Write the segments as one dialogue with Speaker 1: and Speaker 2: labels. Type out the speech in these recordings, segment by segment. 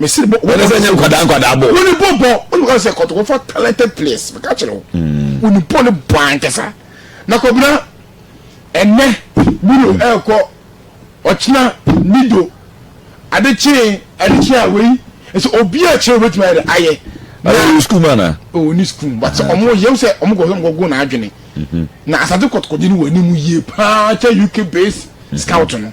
Speaker 1: mesi bɔ wɔn sɛ nyɛ
Speaker 2: nkwadaa nkwadaa
Speaker 1: bɔ wɔn bɔ bɔ wɔn bɔ
Speaker 2: sɛ kɔtɔ wɔfa talented players meka kyerɛ wo hmm. wɔn bɔ ne bɔ ankasa na kɔbena ɛnɛ buru ɛɛkɔ ɔkyena nido adekyee adekyee a wei ɛsɛ obi a kyerɛ obetumi ayɛ ayɛ na ɔwɔ sukuu ma
Speaker 1: na ɔwɔ ni sukuu but sɛ
Speaker 2: ɔmo yɛw sɛ ɔmo kɔ ɔmo kɔ na adwene mhm. na asade kɔtɔkɔdi ni wɔ anim yie paa kyɛ uk base mhm. scout no.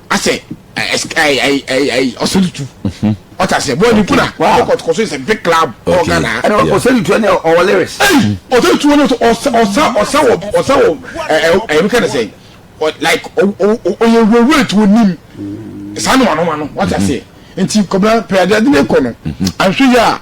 Speaker 2: asɛ ɔsɛdutu ɔta sɛ bɔɔl ni kuna kɔkɔtɔkɔ so is a big club ɔwɔ ghana ha ɔsɛdutu ɛni
Speaker 3: ɔwɔ lyrics ɔsɛdutu wɔn nso ɔsa
Speaker 2: ɔsa ɔsa wɔ ɔsa wɔ ɛɛ ɛɛ nka ne sɛ like ɔyɛ wurawura ti onim saa no ma no ma no ɔta sɛ nti kɔbla pɛ adi adi ne kɔ no ahwɛ yɛ a.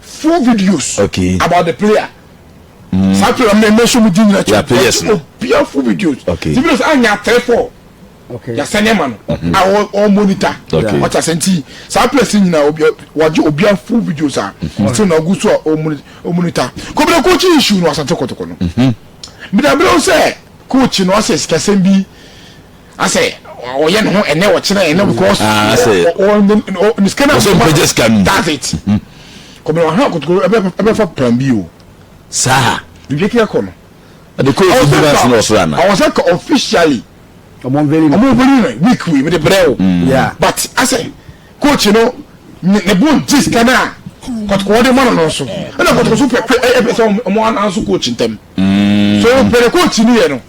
Speaker 2: Full videos okay. about the player. Mm. Saa player mi mɛ sɔmu di nyina kyɛ. Players no. Obia
Speaker 1: full videos.
Speaker 2: Okay. Ti videos a nya
Speaker 1: three four.
Speaker 2: Okay. Yasɛ
Speaker 3: ne ma no.
Speaker 2: Mm-hmm. A ɔ monitor. Okay. Ɔkya sɛ nti saa players nyina obia wagye obia full videos a. Mm-hmm. Ɔsɛ na ɔgu so a ɔ monitor. Kɔbila coach issue no asante kɔtɔkɔ no. Mbidabila mm-hmm. sɛ coach no ɔsɛ sikasɛm bi. asɛ ɔyɛ ne ho ɛnɛ ɔkyerɛ ɛnɛ mm. because ah, ne sika na ɔbɛgye sika no that's
Speaker 1: it mm-hmm.
Speaker 2: kɔmɛ ɔha akotokoro ɛbɛfa plan bi o saa
Speaker 1: ebi kí ɛkɔ no
Speaker 2: ɛdi kó efi
Speaker 1: bi na sinmi ɔsoro ana ɔwɔ sɛ ka officially
Speaker 2: ɔmɔ nveli
Speaker 3: na ɔmɔ nveli na week wei mi
Speaker 2: de brɛ o mm. but
Speaker 3: asɛ
Speaker 2: coach no ne bo n gye sika na kɔtɔkɔɔ de ma no no so ɛna kɔtɔkɔɔ so pɛ pɛ ɛpɛ sɛ ɔmɔ ananso coach ntɛm so pɛrɛ coach ni yɛ no.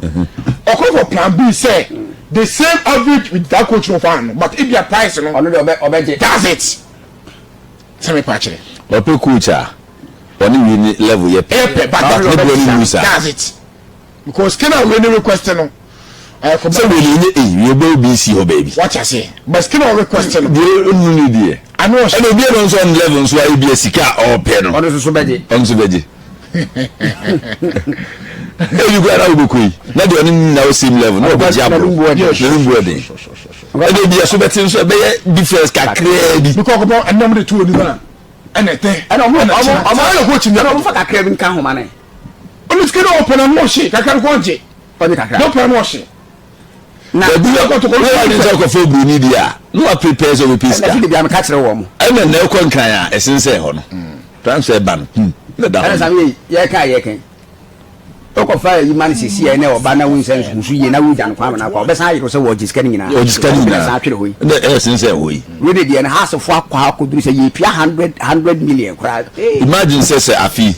Speaker 2: ɔkɔ for plan B sɛ the same average with that coach no fan no but ebia price no ɔno de ɔbɛ ɔbɛgye that's
Speaker 3: it
Speaker 2: sɛ mepa kyerɛ ɔpɛ coach a
Speaker 1: ɔne wei ne level yɛ pɛ ɛyɛ pɛ but that ne boɔ
Speaker 2: ne mu saa that's it because skin a wei ne request no ɛyɛ for sɛ
Speaker 1: wei ne nye eyi wei bɛ obi si hɔ baabi wate aseɛ but skin
Speaker 2: a request no deɛ ɔnu ne deɛ
Speaker 1: ɛna obi ɛna
Speaker 2: nso ɔne level
Speaker 1: nso ayɛ bi asika a ɔpɛ no ɔno nso bɛgye ɔno
Speaker 3: nso bɛgye
Speaker 1: ebi kura na wobɛkɔ yi na deɛ ɔne nyina wɔ same level na ɔbɛgye aboro ne mbu ɛden ɛde bi ɛso bɛte nso ɛbɛyɛ difference kakraa bi bikɔ ɔkɔpɔ ɛnam de to onim
Speaker 2: a ɛna ɛtɛ ɛna ɔmo ɛna
Speaker 3: kyerɛ ɔmo ɛna ɔkɔ kyi ɛna ɔmo fa kakraa bi nka homa ne ɔno sika na
Speaker 2: ɔpɛ na ɔmo ɔhye kakra no kɔ ɔgye ɔgye kakra na ɔpɛ na ɔhye na ebi
Speaker 1: yɛ kɔtɔkɔ na wade nsa kɔfa oburoni deɛ a na wapere pɛɛ sɛ ɔbɛpɛ sika ɛna bia meka kyerɛ wɔ mo
Speaker 3: ɛna na ɛkɔ nkran a
Speaker 1: ɛsen sɛ ɛhɔ no tram sɛ ɛba no kum na da hɔ
Speaker 3: no yɛka yɛkɛn wokɔfa yi ma no sɛsi ɛnɛ ɔba na wonsɛ nsusu yie na wogya no kwan na kɔ wobɛsan ayere sɛ wɔgye sika no nyinaa ɔgye sika no nyinaa san atwere hɔ yi na ɛsen sɛ ɛhɔ yi wei de deɛ no hasefoɔ akɔ akɔduru sɛ yɛpia 100 million koraa imagine sɛ
Speaker 1: sɛ afi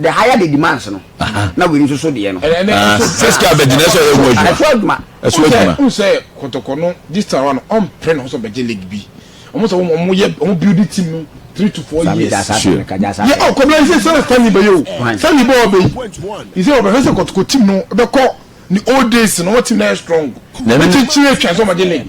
Speaker 3: the higher the demands no na wei nso so deɛ no sɛsika abɛgyina
Speaker 1: sɛ ɔyɛ ho adwuma ɛso adwuma ɛso adwuma n sɛ
Speaker 2: kɔtɔkɔ no this time around ɔmpere ne ho sɛ ɔbɛgye league bi ɔmo sɛ ɔmo yɛ ɔmo build team no three to four years yɛ ɔ kɔbla yi sɛ sɛ stanley bɛyɛ o stanley bɛ ɔbɛ yi sɛ ɔbɛhwɛ sɛ kɔtɔkɔ team no bɛkɔ ne old days no ɔmo team na yɛ strong ne kyekyere atwa sɛ ɔmo gye league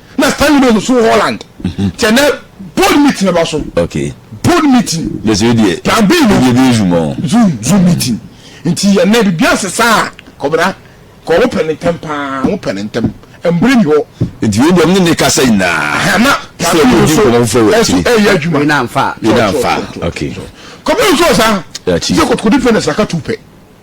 Speaker 2: na stanley
Speaker 1: bɛ nusu
Speaker 2: holland kyɛ nɛ board meeting bɛ ba so okay board
Speaker 1: meeting
Speaker 2: bɛsɛ yɛ deɛ plan b
Speaker 1: no yɛ bɛ zoom
Speaker 2: ɔn zoom
Speaker 1: zoom meeting
Speaker 2: nti yɛ nɛ bibi ase saa kɔbra kɔ wɔn pɛ ne ntɛm paa wɔn pɛ ne ntɛm mbere ni hɔ nti yɛ deɛ ɔmo ne
Speaker 1: kasa nyinaa na plan b no
Speaker 2: so ɛso ɛyɛ adwuma
Speaker 1: yɛ na nfa okay kɔbra
Speaker 2: nso ɔsa yɛ kɔtɔkɔdi pɛ na saka tu pɛ.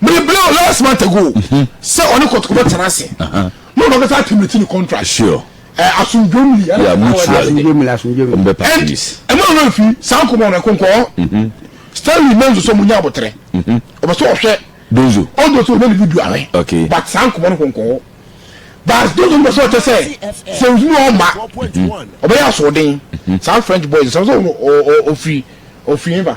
Speaker 2: mene bere o last month ago mhm. sɛ ɔne kɔtɔkɔ bɛ tena ase mo na ɔbɛsa atimiti ne contract sure ɛ eh,
Speaker 1: asundwomli
Speaker 2: ɛna yeah, mutual
Speaker 1: asundwomli asundwomli ɔbɛ pa
Speaker 3: please
Speaker 1: ɛmu ɔno efi
Speaker 2: saa nkɔmɔ ɔno ɛkɔnkɔ mhm. stanley menzo sɛ ɔmo nya abotire mhm. ɔbɛ sɛ ɔhwɛ donzo ɔdo sɛ
Speaker 1: ɔbɛ ne video
Speaker 2: awɛ okay but saa nkɔmɔ no
Speaker 1: kɔnkɔ
Speaker 2: but donzo no bɛ sɛ ɔkyɛ sɛ sɛ nsúmù ɔma ɔbɛ yɛ asoɔden saa french boys sɛ ɔsɛ ɔfiri ɔfiri yɛn ba.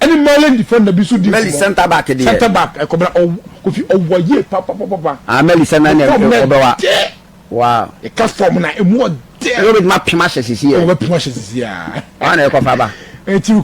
Speaker 2: Ɛne Mali defender bi nso di nkɔmmɔ. Mali centre back deɛ. Centre
Speaker 3: back ɛkɔ bra ɔw
Speaker 2: kofi ɔwa yie papapapa. Ah Mali sɛ na ɛna
Speaker 3: ɔbɛwa. Wow. Ɛka form na
Speaker 2: emu ɔdɛ. Ɛna obetuma pem ahyɛ sisi
Speaker 3: yɛ. Obetuma
Speaker 2: ahyɛ
Speaker 3: sisi
Speaker 2: yaa.
Speaker 3: Ɔna ɛkɔ
Speaker 2: fa
Speaker 3: ba. Ɛti.